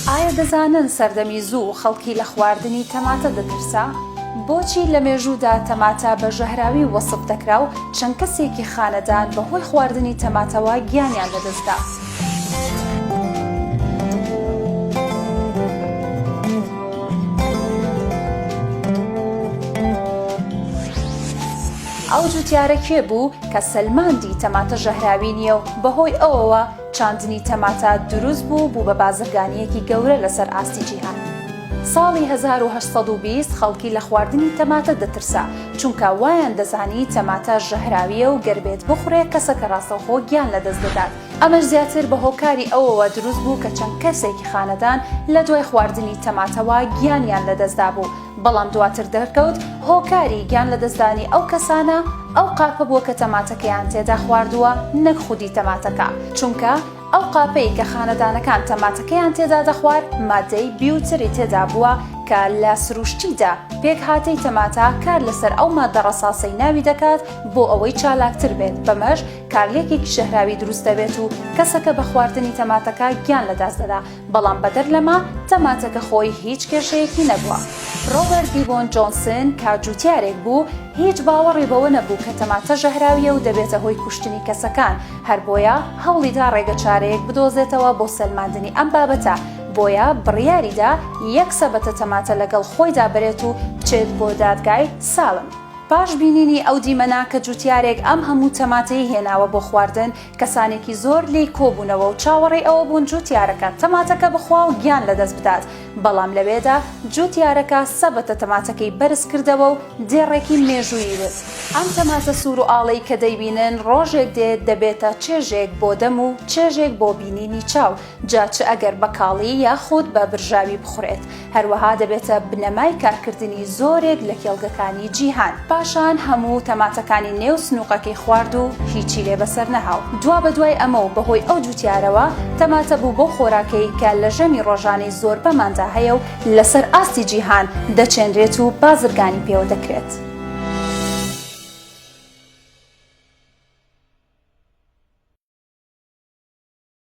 ئایا دەزانن سەردەمی زوو خەڵکی لە خواردنی تەماتە دەترسا؟ بۆچی لە مێژوودا تەماتە بە ژەهراوی وەسف دەکرا و چەند کەسێکی خانەدان بەهۆی خواردنی تەماتەوە گیانیان لەدەستدا؟ ئەو جوتیارە کێ بوو کە سەلماندی تەماتە ژەهراوی نییە و بەهۆی ئەوەوە چاندنی تەماتە دروست بوو بوو بە بازرگانیەکی گەورە لەسەر ئاستی جیهان؟ ساڵی هەزار و هەشت سەد و بیست خەڵکی لە خواردنی تەماتە دەترسا چونکە وایان دەزانی تەماتە ژەهراوییە و گەر بێت بخورێ کەسەکە ڕاستەوخۆ گیان لەدەست دەدات، ئەمەش زیاتر بە هۆکاری ئەوەوە دروست بوو کە چەند کەسێکی خانەدان لە دوای خواردنی تەماتەوە گیانیان لەدەستدابوو، بەڵام دواتر دەرکەوت هۆکاری گیان لەدەستدانی ئەو کەسانە ئەو قاپە بووە کە تەماتەکەیان تێدا خواردووە نەک خودی تەماتەکە، چونکە ئەو قاپەی کە خانەدانەکان تەماتەکەیان تێدا دەخوارد مادەی بیوتری تێدا بووە کە لە سروشتیدا پێکهاتەی تەماتە کار لەسەر ئەو ماددە ڕەساسەی ناوی دەکات بۆ ئەوەی چالاکتر بێت بەمەش کارلێکێکی ژەهراوی دروست دەبێت و کەسەکە بە خواردنی تەماتەکە گیان لە دەست دەدا بەڵام بەدەر لەمە تەماتەکە خۆی هیچ کێشەیەکی نەبووە. ڕۆبەرت دیبۆن جۆنسن کە جووتیارێک بوو هیچ باوەڕی بەوە نەبوو کە تەماتە ژەهراویە و دەبێتە هۆی کوشتنی کەسەکان هەر بۆیە هەوڵی دا ڕێگە چارەیەک بدۆزێتەوە بۆ سەلماندنی ئەم بابەتە بۆیە بڕیاریدا یەک سەبەتە تەماتە لەگەڵ خۆیدا بەرێت و بچێت بۆ دادگای سالم. پاش بینینی ئەو دیمەنە کە جوتیارێک ئەم هەموو تەماتەی هێناوە بۆ خواردن، کەسانێکی زۆر لێی کۆبوونەوە و چاوەڕێی ئەوە بوون جوتیارەکە تەماتەکە بخوا و گیان لەدەست بدات، بەڵام لەوێدا جوتیارەکە سەبەتە تەماتەکەی بەرز کردەوە و دێڕێکی مێژوویی وت. ئەم تەماتە سوور و ئاڵەی کە دەیبینن، ڕۆژێک دێت دەبێتە چێژێک بۆ دەم و چێژێک بۆ بینینی چاو، جا چ ئەگەر بە کاڵی یاخود بە برژاوی بخورێت، هەروەها دەبێتە بنەمای کارکردنی زۆرێک لە کێڵگەکانی جیهان. پاشان هەموو تەماتەکانی نێو سنووقەکەی خوارد و هیچی لێ بەسەر نەها و دوابەدوای ئەمە و بەهۆی ئەو جووتیارەوە، تەماتە بوو بەو خۆراکەی کە لە ژەمی ڕۆژانەی زۆربەماندا هەیە و لەسەر ئاستی جیهان دەچێنرێت و بازرگانی پێوە دەکرێت.